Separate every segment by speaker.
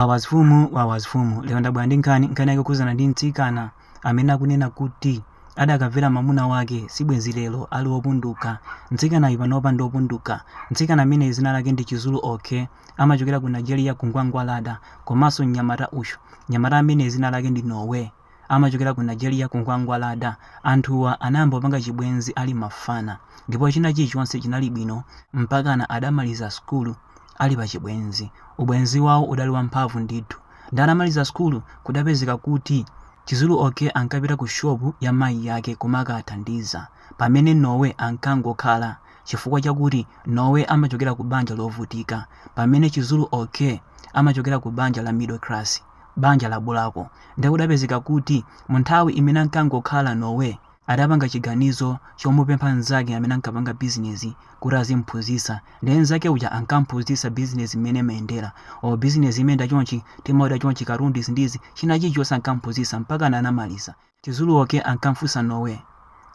Speaker 1: Wawa zfumu wawa zfumu lero ndabwera ndi nkhani nkhani yake kukhudzana ndi mtsikana amene akunena kuti adakamvera mamuna wake sibwenzi lero ali opunduka mtsikanayu panopa ndi opunduka mtsikana ameneyu zina lake ndi chizulu okey amachokera ku nigeria ku ngwangwalada komanso mnyamata uyu mnyamata ameneyu zina lake ndi noah amachokera ku Nigeria ku Ngwangwalada. Anthuwa anayamba kupanga chibwenzi ali mafana ndipo china chilichonse chinali bwino mpakana adamaliza sukulu ali pa chibwenzi. Ubwenzi wawo udali wamphamvu ndithu. Nde atamaliza sukulu kudapezeka kuti Chizulu Okey ankapita ku shop ya mayi ake kumakathandiza pamene Noah ankangokhala chifukwa chakuti Noah amachokera ku banja lovutika pamene Chizulu Okey amachokera ku banja la middle class. banja la Bulako nde kudapezeka kuti mu nthawi imene ankangokhala Noah adapanga chiganizo chomupempha mnzake amene ankapanga bizinezi kuti azimuphunzitsa nde mnzake uja ankamuphunzitsa bizinezi mmene imayendera o bizinezi imayenda chonchi, timaoda chonchi, katundu izi ndi izi, china chilichonse ankamuphunzitsa mpakana anamaliza. Chizulu Okey ankamfunsa Noah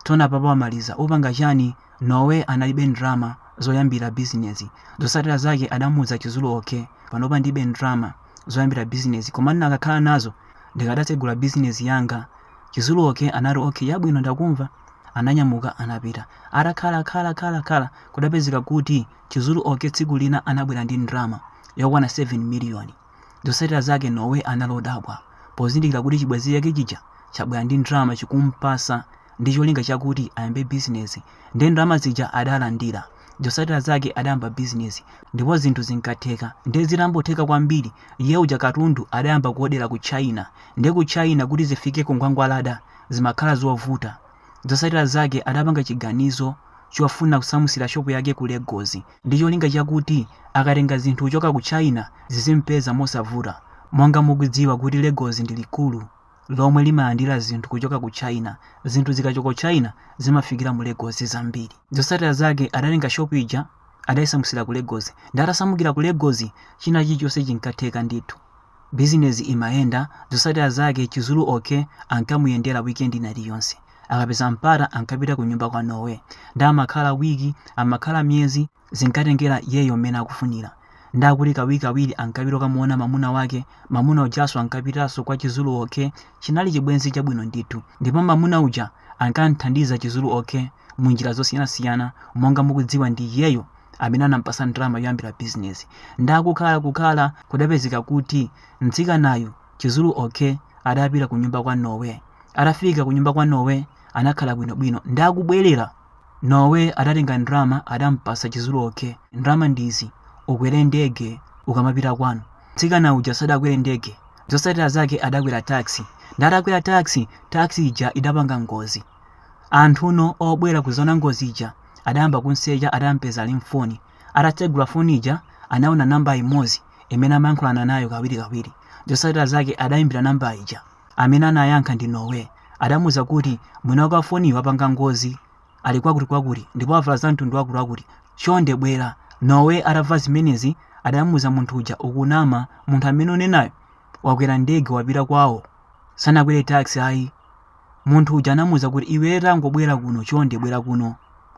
Speaker 1: tsono apapa wamaliza upanga chani Noah analibe ndrama zoyambila bizinezi zotsatila zake adamuuza Chizulu Okey panopa ndilibe ndrama zoyambila bizinezi koma ndnakakhala nazo ndikadatsegula bizinezi yanga Chizulu Okey anati ok yabwino ndakumva ananyamuka anapita atakhala khala khala khala kudapezeka kuti Chizulu Okey tsiku lina anabwela ndi ndrama yokwana 7 miliyoni Zotsatira zake Noah anali odabwa pozindikira kuti chibwenzi chake chija chabwera ndi ndalama chikumpasa ndi cholinga chakuti ayambe bizinesi nde ndalama zija adalandira. Zotsatira zake adayamba bizinesi ndipo zinthu zinkatheka nde zitambotheka kwambiri iye uja katundu adayamba kuodera ku China nde ku China kuti zifike ku Ngwangwalada zimakhala zovuta. Zotsatira zake adapanga chiganizo chofuna kusamutsira shop yake ku Lagos. ndi cholinga chakuti akatenga zinthu kuchoka ku China zizimpeza mosavuta. Monga mukudziwa kuti Lagos ndi likulu lomwe limalandira zinthu kuchoka ku China, zinthu zikachoka ku China zimafikira mu Lagos zambiri. Zotsatira zake adatenga shop ija adaisamutsira ku Lagos nde atasamukira ku Lagos china chilichonse chinkatheka ndithu. Business imayenda, zotsatira zake Chizulu Okey ankamuyendera weekend ina iliyonse. Akapeza mpata ankapita kunyumba kwa Noah. Nde amakhala week, amakhala miyezi, zinkatengera iyeyo mmene akufunira. Nde akuti kawirikawiri ankapita kukamuona mamuna wake, mamuna ujanso ankapitanso kwa Chizulu Okey, chinali chibwenzi chabwino ndithu. Ndipo mamuna uja ankamthandiza Chizulu Okey munjira zosiyanasiyana, monga mukudziwa ndi iyeyo amene anampasa ndalama yoyambira business nda kukhalakukhala kudapezeka kuti mtsikanayu chizulu okay adapita ku nyumba kwa nowe atafika ku nyumba kwa nowe anakhala bwinobwino ndi kubwerera nowe adatenga ndalama adampasa chizulu okay ndalama ndizi ukwere ndege ukamapita kwanu mtsikana uja sadakwere ndege zotsatira zake adakwera taxi ndatakwera taxi taxi ija idapanga ngozi Anthu no obwera kuzaona ngozi ija adayamba kumsecha adampeza ali m'foni. Atatsegula foni ija anaona nambala imodzi imene amayankhulana nayo kawirikawiri. Zotsatira zake adaimbira nambala ija. Amene anayankha ndi Noé. Adamuuza kuti mwini wake wa foniyi wapanga ngozi ali kwakutikwakuti ndipo wavala zamtundu wakutiwakuti. Chonde bwera. Noé atamva zimenezi adamuuza munthu uja, Ukunama. Munthu amene ukunenayo wakwera ndege wapita kwawo. Sanakwere taxi ayi. munthu uja anamuuza kuti iwe tangobwera kuno chonde bwera kuno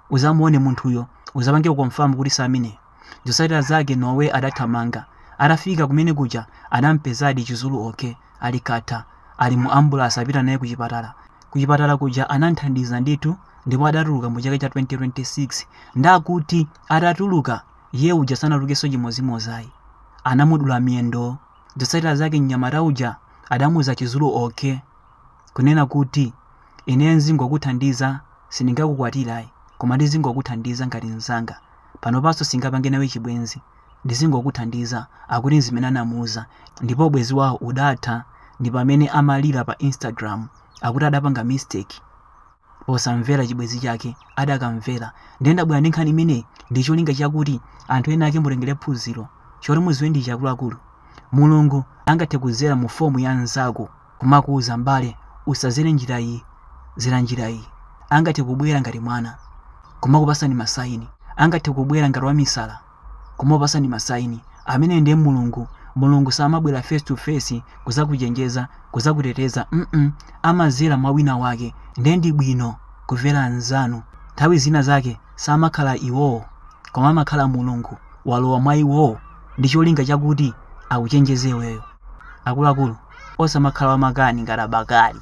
Speaker 1: uzamuone munthuyo uzapange confirm kuti si amene zotsatira zake nowe adathamanga atafika kumene kuja anampezadi chizulu okay ali katha ali mu ambulansi akupita naye kuchipatala kuchipatala kuja anamthandiza ndithu ndipo adatuluka mu chaka cha 2026 ndakuti atatuluka iye uja sanatulukenso chimodzimodzi ayi anamudula miyendo zotsatira zake mnyamata uja adamuuza chizulu okay kunena kuti ineyo nzingokuthandiza sindingakukwatire ayi koma ndizingokuthandiza ngati mnzanga panopanso singapange nawe chibwenzi ndizingokuthandiza akuti nzimene anamuuza ndipo ubwenzi wawo udatha ndi pamene amalira pa instagram akuti adapanga mistake posamvera chibwenzi chake adakamvera nde ndabwera ndi nkhani imeneyi ndi cholinga chakuti anthu ena ake mutengere phunziro choti muziwe ndichi akuluakulu mulungu angathe kudzera mu form ya mnzako kumakuuza m'bale usazere njira iyi zera njira iyi angathe kubwera ngati mwana kumakupasani masaini angathe kubwera ngati wamisala kumakupasani masaini amene nde mulungu mulungu samabwera face to face kuzakuchenjeza kuzakuteteza mm amazera mwa wina wake nde ndi bwino kumvera anzanu nthawi zina zake samakhala iwowo koma amakhala mulungu walowa mwa iwowo ndi cholinga chakuti akuchenjeze weyo akuluakulu osamakhala wamakani ngati abakali